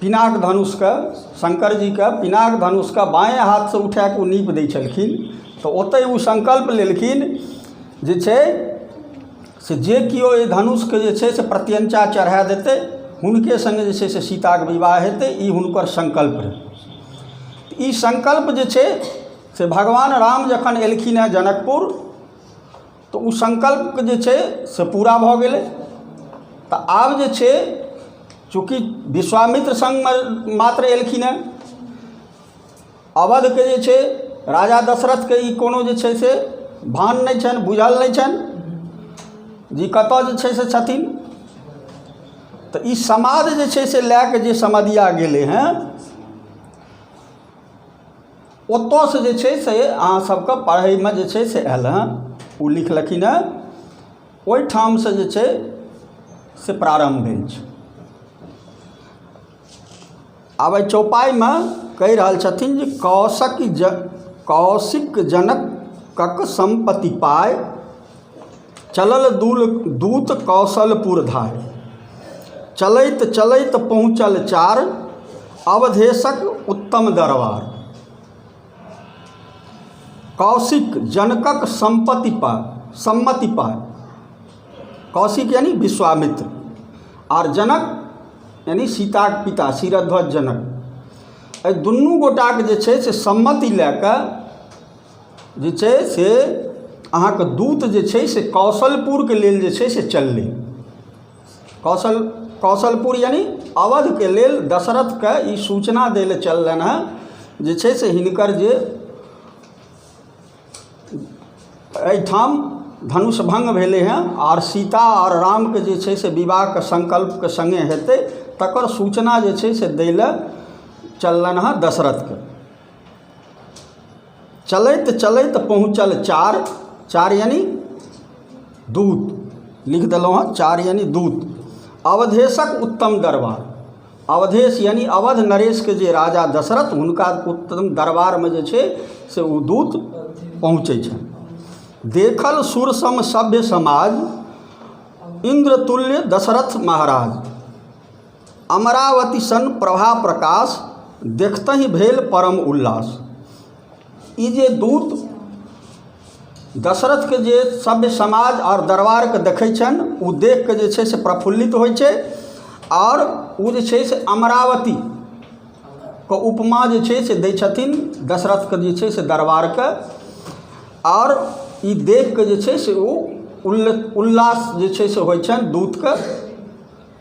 पिनाक धनुषके शङ्कर जीके पिनाक धनुषके बाँए हाथसँ उठा कऽ ओ नीप दै छलखिन तऽ ओतहि ओ सङ्कल्प लेलखिन जे छै से जे केओ एहि धनुषके जे छै से प्रत्यञ्चा चढ़ा देतै हुनके सङ्गे जे छै से सीताक विवाह हेतै ई हुनकर सङ्कल्प रहै तऽ ई सङ्कल्प जे छै से भगवान राम जखन एलखिन हेँ जनकपुर तऽ ओ संकल्प जे छै से पूरा भऽ गेलै तऽ आब जे छै चूँकि विश्वामित्र संगमे मात्र एलखिन हँ अवधके जे छै राजा दशरथके ई कोनो जे छै से भान नहि छनि बुझल नहि छनि जे कतऽ जे छै से छथिन तऽ ई समाध जे छै से लऽ कऽ जे समधिआ गेलै हँ ओतऽसँ जे छै से अहाँ सबके पढ़यमे जे छै से आयल हँ ओ लिखलखिन हँ ओइठामसँ जे छै से प्रारम्भ भेल छै आब अइ चौपाइमे कहि रहल छथिन जे कौशक कौशिक जनकक सम्पति पाइ चलल दूल दूत कौशलपुर धारि चलैत चलैत पहुँचल चार अवधेशक उत्तम दरबार कौशिक जनकक सम्पत्ति पा सम्मति पा कौशिक यानी विश्वामित्र आर जनक यानी सीताक पिता शिरध्वज जनक एहि दुनू गोटाके जे छै से सम्मति लए कऽ जे छै से अहाँके दूत जे छै से कौशलपुरके लेल जे छै से चललै कौशल कौशलपुर यानि अवधके लेल दशरथकेँ ई सूचना दै लए चललनि हेँ जे छै से हिनकर जे एहिठाम धनुष भङ्ग भेलै हेँ आओर सीता आओर रामके जे छै से विवाहके संकल्पके सङ्गे हेतै तकर सूचना जे छै से दै लए चललनि हेँ दशरथकेँ चलैत चलैत पहुँचल चार चार यानि दूत लिख देलहुँ हँ चार यानि दूत अवधेशक उत्तम दरबार अवधेश यानि अवध नरेशके जे राजा दशरथ हुनका उत्तम दरबारमे जे छै से ओ दूत पहुँचै छनि देखल सुरसम सभ्य समाज इन्द्रतुल्य दशरथ महाराज अमरावती सन प्रभा प्रकाश देखतहि भेल परम उल्लास ई जे दूत दशरथके जे सभ्य समाज आओर दरबारके देखै छनि ओ देख कऽ जे छै से प्रफुल्लित होइ छै आओर ओ जे छै से अमरावती के उपमा जे छै से दै छथिन दशरथके जे छै से दरबारके आओर ई देख कऽ जे छै से ओ उल्ल उल्लास जे छै से होइ छनि दूतके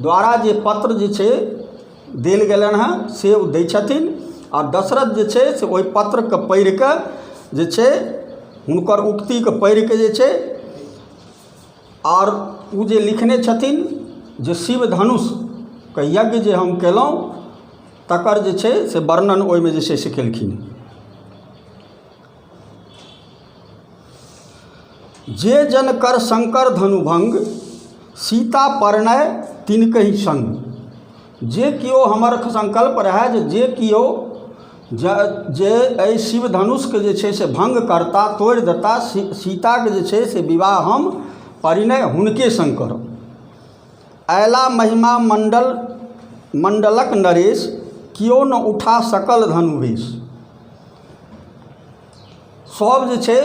द्वारा जे पत्र जे छै देल गेलनि हेँ से ओ दै छथिन आ दशरथ जे छै से ओहि पत्रकेँ पढ़ि कऽ जे छै हुनकर उक्तिकेँ पढ़ि कऽ जे छै आओर ओ जे लिखने छथिन जे शिव धनुषके यज्ञ जे हम कयलहुँ तकर जे छै से वर्णन ओहिमे जे छै से केलखिन जे जन कर शंकर धनुभंग सीता परनय तिनकहि संग जे कियो हमर संकल्प रहए जे जे कियो ज जे एहि शिव धनुषके जे छै से भंग करता तोड़ि देता सी सीताके जे छै से विवाह हम परिणय हुनके संग करब अयला महिमा मंडल मंडलक नरेश कियो न उठा सकल धनुवेश सभ जे छै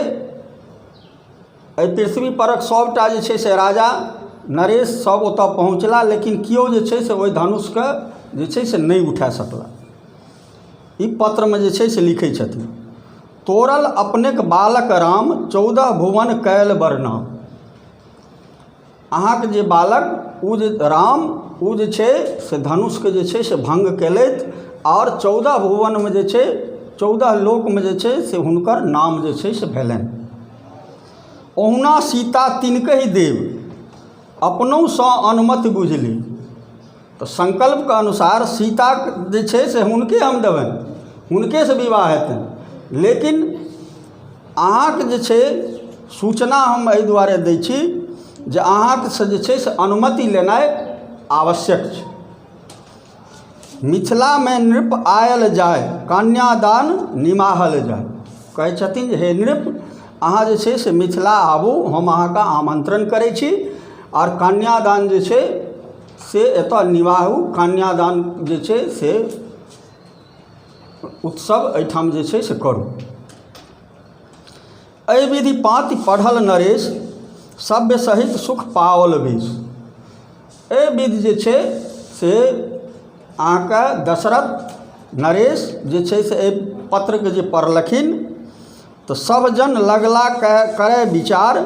एहि पृथ्वी परक सभटा जे छै से राजा नरेश सभ ओतय पहुँचला लेकिन कियो जे छै से ओहि धनुषकेँ जे छै से नहि उठा सकला ई पत्रमे जे छै से लिखै छथिन तोड़ल अपनेक बालक राम चौदह भुवन कयल बरना अहाँके जे बालक ओ जे राम ओ जे छै से धनुषके जे छै से भङ्ग कएलथि आओर चौदह भुवनमे जे छै चौदह लोकमे जे छै से हुनकर नाम जे छै से भेलनि ओहुना सीता तिनकहि देव अपनहुसँ अनुमति बुझलि तऽ संकल्पके अनुसार सीता जे छै से हुनके हम देबनि हुनकेसँ विवाह हेतनि लेकिन अहाँके जे छै सूचना हम एहि दुआरे दै छी जे अहाँसँ जे छै से अनुमति लेनाइ आवश्यक छै मिथिलामे नृप आयल जाय कन्यादान निमाहल जाय कहै छथिन जे हे नृप अहाँ जे छै से मिथिला आबू हम अहाँके आमन्त्रण करै छी आओर कन्यादान जे छै से एतय निवाहु कन्यादान जे छै से उत्सव एहिठाम जे छै से करू एहि विधि पाँति पढ़ल नरेश सभ्य सहित सुख पाओल वेश एहि विधि जे छै से अहाँके दशरथ नरेश जे छै से एहि पत्रकेँ जे पढ़लखिन तऽ सभ जन लगला कए करय विचार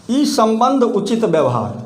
ई सम्बन्ध उचित व्यवहार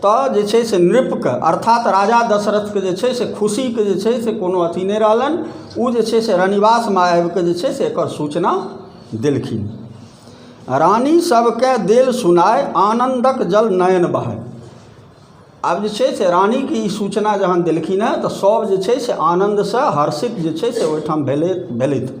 तऽ जे छै से नृपके अर्थात राजा दशरथके जे छै से खुशीके जे छै से कोनो अथी नहि रहलनि ओ जे छै से रनिवासमे आबिके जे छै से एकर सूचना देलखिन रानी सभकेँ देल सुनाइ आनन्दक जल नयन बहाइ आब जे छै से रानीके ई सूचना जहन देलखिन हँ तऽ सभ जे छै से आनन्दसँ हर्षित जे छै से ओहिठाम भेलथि भेलथि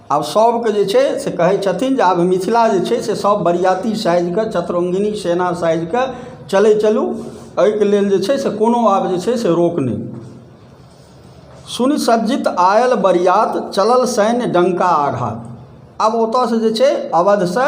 आब सभकेँ जे छै से कहै छथिन जे आब मिथिला जे छै से सभ बरियाती साजि कऽ चतरङ्गिणी सेना साजि कऽ चलै चलू एहिके लेल जे छै से कोनो आब जे छै से रोक नहि सुनि सज्जित आयल बरियात चलल सैन्य डङ्का आघात आब ओतयसँ जे छै अवधसँ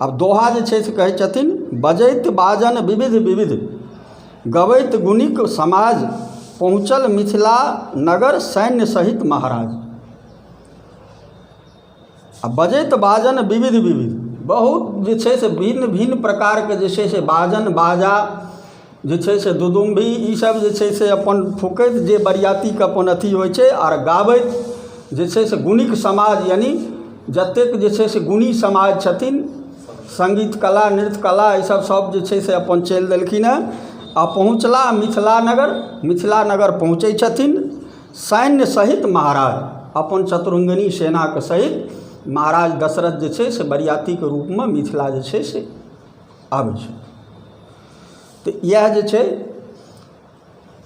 आब दोहा जे छै से कहै छथिन बजैत बाजन विविध विविध गबैत गुणिक समाज पहुँचल मिथिला नगर सैन्य सहित महाराज आ बजैत बाजन विविध विविध बहुत जे छै से भिन्न भिन्न प्रकारके जे छै से बाजन बाजा जे छै से दुदुम्भी ईसभ जे छै से अपन फूँकैत जे बरियातीके अपन अथी होइ छै आर गाबैत जे छै से गुणिक समाज यानि जतेक जे छै से गुणी समाज छथिन सङ्गीत कला नृत्य कला ईसभ सभ जे छै से अपन चलि देलखिन हेँ आ पहुँचला मिथिला नगर मिथिला नगर पहुँचै छथिन सैन्य सहित महाराज अपन चतुरङ्गिणी सेनाके सहित महाराज दशरथ जे छै से बरियातीके रूपमे मिथिला जे छै से आबै छै तऽ इएह जे छै